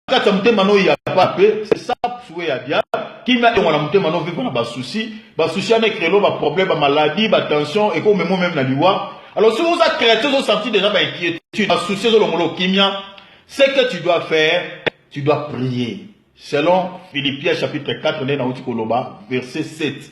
kati ya motema no ya pa pe c'est ça souhait ya dia kimia elongo na motema no vivre na ba souci ba souci ana ekrelo ba problème ba maladie ba tension eko memo meme na liwa alors si oza chrétien ozo sentir déjà ba inquiétude ba souci ezolongolo kimia ce que tu dois faire tu dois prier selon philippiens chapitre 4 nde nauti koloba verset 7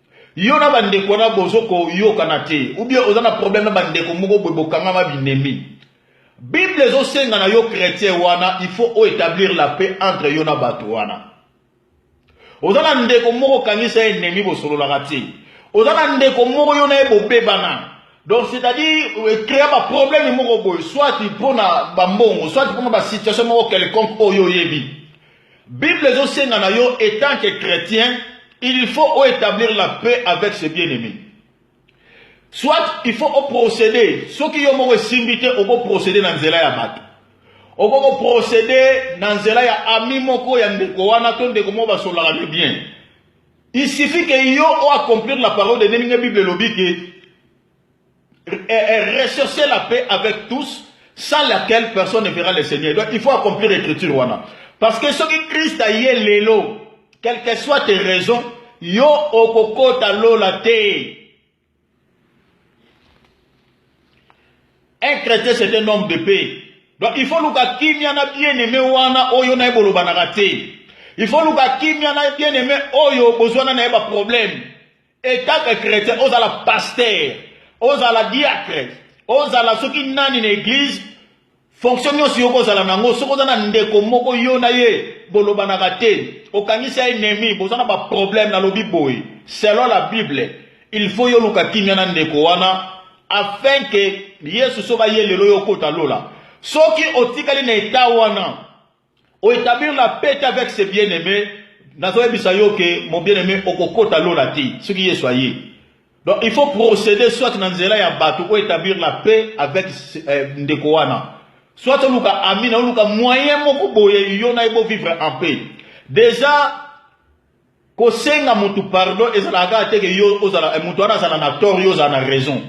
Yo na ba ndeko wana bozo ko yokana te ou bien oza na problème na ba ndeko moko boye bokangama binemi. Bible ezo senga na yo chretien wana il faut o etablir la paix entre yo na bato wana. Oza na ndeko moko kangisa ennemi bosololaka te. Oza na ndeko moko yo na ye bobebana. Donc c'est-à-dire euh, créer ba problème moko boye soit pona ba mbongo soit pona ba situation moko quelconque oyo oyebi. Bible ezo senga na yo etant que chretien, il faut o etablir la paix avec ses bien-aimés. Soit il faut o procéder, soki yo moko esimbi te oko procéder na nzela ya bato. Oko ko procéder na nzela ya ami moko ya ndeko wana to ndeko moko basolaka ne bien. Il suffit que yo o accomplir la parole de Dieu, ndenge Bible elobi que rechercher la paix avec tous sans laquelle personne ne verra le Seigneur. Donc il faut accomplir l'écriture wana. Parce que ce qui Christ a yé lelo, quelles que soient tes raisons, yo okokota lola te. Un chrétien c'est un homme de paix. Donc il faut luka kimia na bien aimé wana oyo na ebolo banaka te. Il faut luka kimia na bien aimé oyo bozwana na ba problème. Etant que chrétien, ozala pasteur, ozala diacre, ozala soki nani na église, fonction nyonso yo kozala nango, soki oza na ndeko moko yo na ye bolobanaka te, okangisi ya ennemi, boza na ba problème na lobi boye. Selon la Bible, il faut yo luka kimia na ndeko wana afin que Yesu soba ye lelo yo kota lola. Soki otikali na etat wana, O etablir la paix avec ses bien-aimés, nazoyebisa yo ke mon bien-aimé okokota lola te soki Yesu aye. Donc il faut procéder soit na nzela ya bato o établir la paix avec euh, ndeko wana. Soit oluka ami na oluka moyen moko boye yo na ye bo vivre en paix. Déjà Kosenga mutu pardon ezalaka kaka te ke yo ozala eh, mutu wana azala na tort yo ozala na raison.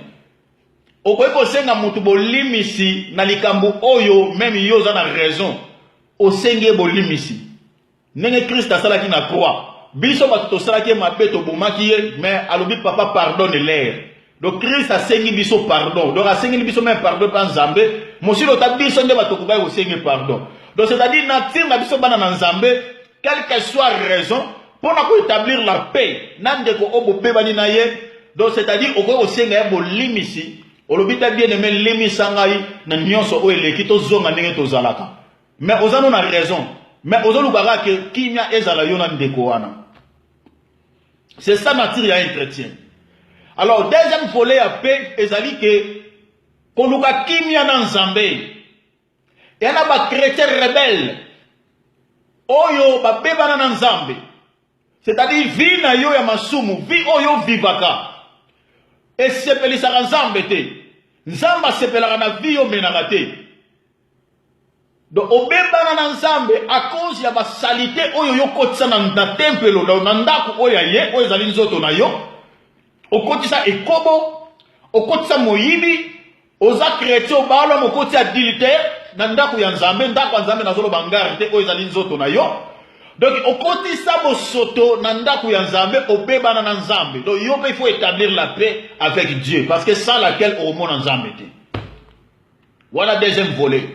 Okoki kosenga mutu bolimisi na likambo oyo meme yo oza na raison. Osengi ye bolimisi. Ndenge Christ asalaki na croix. Biso bato tosalaki ye mabe tobomaki ye mais alobi papa pardonne leur. Donc Christ asengi biso pardon. Donc asengeli biso même pardon pa Nzambe. Mosilo ta biso nde bato kobai kosengi pardon. Donc c'est-à-dire na tinga biso bana na Nzambe quelle que soit raison pour na établir la paix na ndeko obo bebani na ye. Donc c'est-à-dire okoki kosenga ya bolimisi olobi ta bien aimé limisa ngai na nyonso oyo eleki tozonga ndenge tozalaka. Mais oza no na raison. Mais ozoluka kaka ke kimia ezala yo na ndeko wana. C'est ça nature ya un chrétien. Alors deuxième volet ya paix ezali ke koluka kimia na Nzambe. Ya na ba chrétiens rebelles oyo babebana na Nzambe. C'est-à-dire vie na yo ya masumu, vie oyo vivaka. Esepelisaka Nzambe te. Nzambe asepelaka na vie yo menaka te. Donc obebana na Nzambe à cause ya ba salite oyo yo kotisa na, na tempelo donc na ndako oyo ya ye oyo ezali nzoto na yo okotisa ekobo okotisa moyibi oza chrétien obala mokoti adultère na ndako ya Nzambe ndako ya Nzambe nazoloba ngari te oyo ezali nzoto na yo donc okotisa bosoto na ndako ya Nzambe obebana na Nzambe donc yo pe il faut établir la paix avec Dieu parce que sans laquelle okomona Nzambe te Voilà deuxième volet.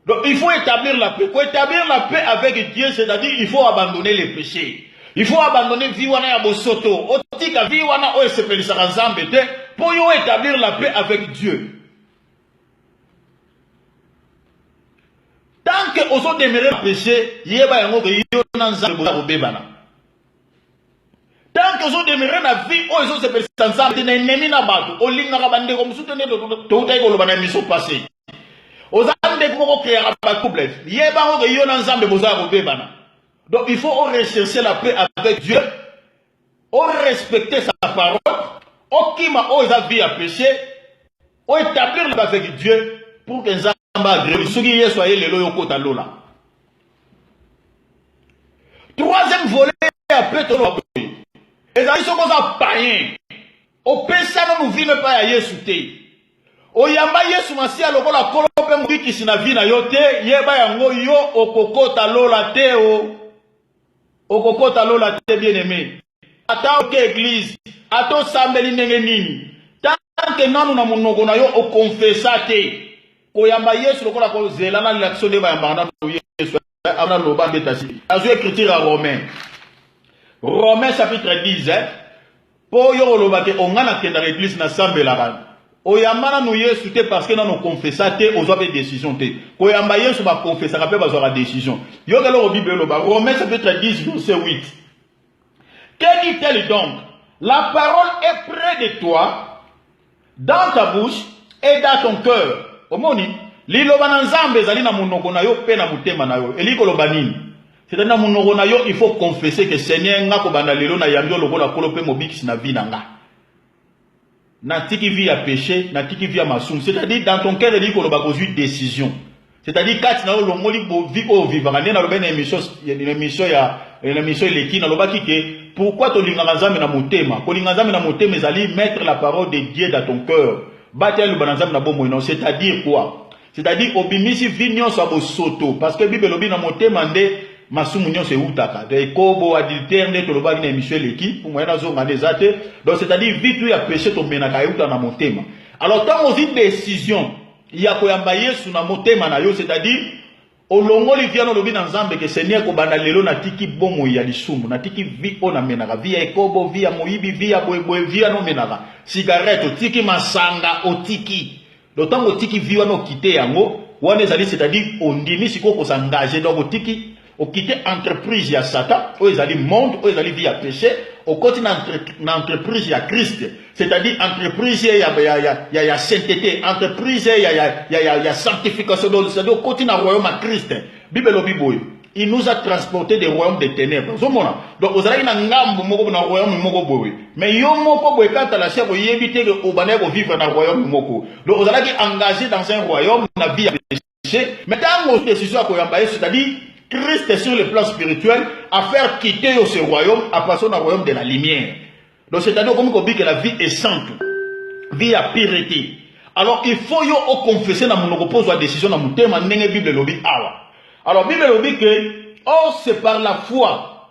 Donc il faut établir la paix. Pour établir la paix avec Dieu, c'est-à-dire il faut abandonner les péchés. Il faut abandonner vie wana ya bosoto. Otika vie wana oyo esepelisaka Nzambe te pour yo établir la paix avec Dieu. Tant que ozo demeurer péché, yeba yango que yo na Nzambe boza kobebana. tanke ozodemeure na vie oyo ezosepelisa nzambe te na enemi na bato olingaka bandeko mosusu te nde toutaki koloba na miso pase oza ndeko moko okreaka batrouble yebanga oke yo na nzambe boza ya kobebana donc il faut orecherche la paix avec dieu orespecte sa parole okima oyo eza vie ya péché oétablir la avec dieu pour que nzambe nzambe agreli soki yesu aye lelo yo kota lola troisième volet ya petolo boye ezali soki oza payen opesa nanu vino epai ya yesu te oyamba yesu masiya lokola kolo mpe mobikisi na vi na yo te yeba yango yo okokota lola te o okokota lola te bien aime Ata oke eglise, ata osambeli ndenge nini, tant que nanu na monoko na yo okonfesa te koyamba Yesu lokola ko zela na lilakiso nde bayambaka nanu Yesu eh, abana loba nde tasi. Azwi écriture ya Romain. Romain chapitre 10 eh. Po yo koloba te onga na kendaka eglise na sambelaka. Oyamba nanu Yesu te parce que nanu confessa te ozwa pe décision te. Koyamba Yesu ba confessaka pe bazwaka décision. Yo keloko Bible eloba Romain chapitre 10 verset 8. Que dit-elle donc La parole est près de toi, dans ta bouche et dans ton cœur. Omoni, liloba na Nzambe ezali na monoko na yo mpe na motema na yo. Elingi koloba nini? C'est-à-dire na monoko na yo, il faut confesser que Seigneur, nga kobanda lelo na yambi lokola kolo mpe mobikisi na vie na nga. natiki vie ya peche natiki vie ya masumu c'est-à-dire dans ton cœur elingi koloba kozwi décision c'est-à-dire kati na yo olongoli vie oyo ovivaka nde nalobaki na émission na émission ya na émission eleki nalobaki ke pourquoi tolingaka nzambe na motema kolinga nzambe na motema ezali mettre la parole de dieu dans ton cœur batya liloba na nzambe na bomoi na yo c'est-à-dire quoi C'est-à-dire obimisi vie nyonso ya bosoto parce que Bible elobi na motema nde masumu nyonso eutaka donc ekobo adultère nde tolobaki na émission eleki pour moyen nazonga nde eza te donc c'est-à-dire vie tout ya péché tomenaka euta na motema alors ntango ozwi décision ya koyamba Yesu na motema na yo c'est-à-dire Olongoli viana olobi na Nzambe ke Seigneur kobanda lelo natiki bomoi ya lisumu, natiki vie oyo namenaka, vie ya ekobo, vie ya moyibi, vie ya boye boye, vie wana omenaka, cigarette otiki, masanga otiki. Donc ntango otiki vie wana okite yango, wana ezali c'est-à-dire ondimi sikoyo ko s'engager donc otiki okite entreprise ya Satan oyo ezali monde oyo ezali vie ya péché okoti na, entre, na entreprise ya Christ c'est-à-dire entreprise ya ya ya ya ya sainteté entreprise ya ya ya ya ya sanctification donc c'est-à-dire okoti na royaume ya Christ Bible elobi boye il nous a transporté des royaumes des ténèbres ozomona donc ozalaki na ngambo moko na royaume moko boye mais yo moko boye kaka la chef oyebi te ke obandaki kovivre na royaume moko donc ozalaki engagé dans un royaume na vie ya Mais tango décision ya koyamba ye, c'est-à-dire Christ sur le plan spirituel à faire quitter ce royaume à passer au royaume de la lumière. Donc c'est-à-dire comme dit que la vie est sainte, vie ya purité. Alors il faut yo au confesser na monoko pose la décision na mutema ndenge Bible lobi awa. Alors Bible lobi que oh c'est par la foi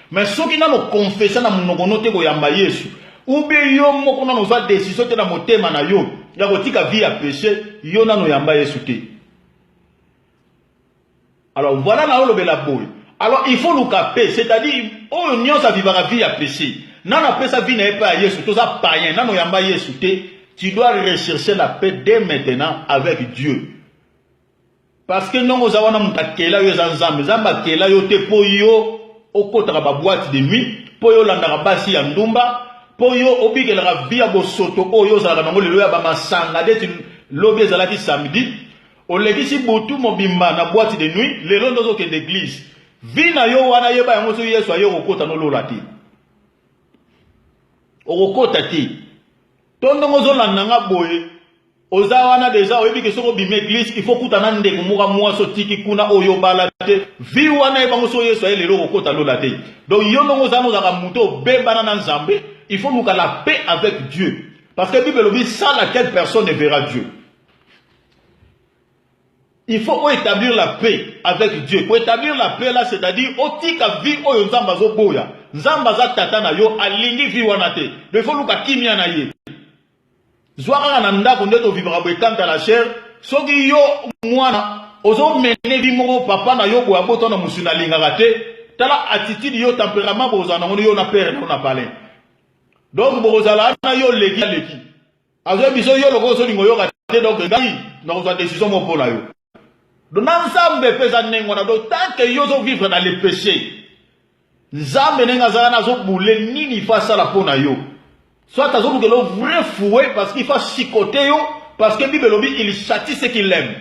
Mais soki nano confessa na munoko no te koyamba Yesu, ou bien yo moko nano ozwa decision te na motema na yo ya kotika vie ya peche, yo nano oyamba Yesu te. Alors voilà na olobela boye. Alors il faut luka pe, c'est-à-dire oyo nyonso avivaka vie ya peche. Nano apesa vie na ye pa ya Yesu, toza païen, nano oyamba Yesu te. Tu dois rechercher la paix dès maintenant avec Dieu. Parce que ndongo oza wana moto akela yo eza Nzambe. Nzambe akela yo te mpo yo okotaka ba boîte de nuit, mpo yo olandaka basi ya ndumba, mpo yo obikelaka vie ya bosoto oyo ozalaka nango lelo ya ba masanga deti lobi ezalaki samedi. Olekisi butu mobimba na boîte de nuit, lelo nde ozokende eglise. Vie na yo wana yeba yango soki Yesu aye okokota no lola te. Okokota te. To ndongo ozolanda nga boye Oza wana deja oyebi ke soki obimi eglise il faut kuta na ndeko moka mwasi otiki kuna oyobala te vi wana ye bango so yesu aye lelo okokota lola te donc yo ndongo oza nozaka moto obebana na nzambe il faut luka la paix avec dieu parce que bible elobi sans laquelle personne ne verra dieu il faut oétablir la paix avec Dieu. Pour établir la paix là, c'est-à-dire otika vie oyo Nzambe azoboya. Nzambe aza tata na yo alingi vie wana te. Mais faut luka kimia na ye. Zwa kaka na ndako nde to vivaka boye quant à la chair soki yo mwana ozo mene vie moko papa na yo boye abota na musuni alingaka te tala attitude yo temperament bokozala nango yo na père na yo na palin donc bokozala na yo leki leki azoyebi biso yo lokola ozolinga oyoka te donc ngai nakozwa decision moko mpo na yo donc na nzambe mpe eza ndenge wana donc tant que yo ozovivre na le péché nzambe ndenge aza wana azobule nini ifa asala mpo na yo soit azolukela vrai fouet parce qu'il fa chicote yo parce que bible elobi il châtie ce qu'il aime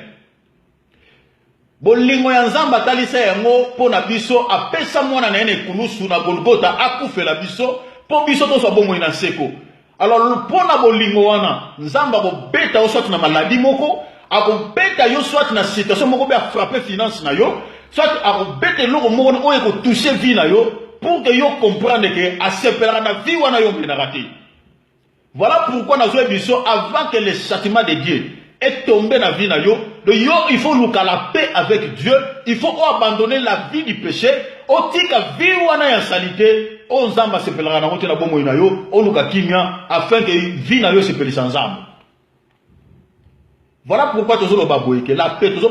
bolingo ya nzambe atalisa yango mpo na biso apesa mwana na ye na ekulusu na golgota akufela biso mpo biso tozwa bomoi na seko Alors mpo na bolingo wana, Nzambe akobeta yo soit na maladie moko, akobeta yo soit na situation moko mpe afrappe finance na yo, soit akobeta eloko moko na oyo ekotouche vie na yo pour que yo comprendre que asepelaka na vie wana yo omelaka te. Voilà pourquoi nazoyebisa yo avant que le châtiment de Dieu est tombe na vie na yo donc yo il faut luka la paix avec Dieu il faut o abandonner la vie du péché otika vie wana ya salite oyo nzambe asepelaka nango te na bomoi na yo oluka kimia afin ke vie na yo esepelisa nzambe voilà pourquoi tozoloba boye ke la paix tozo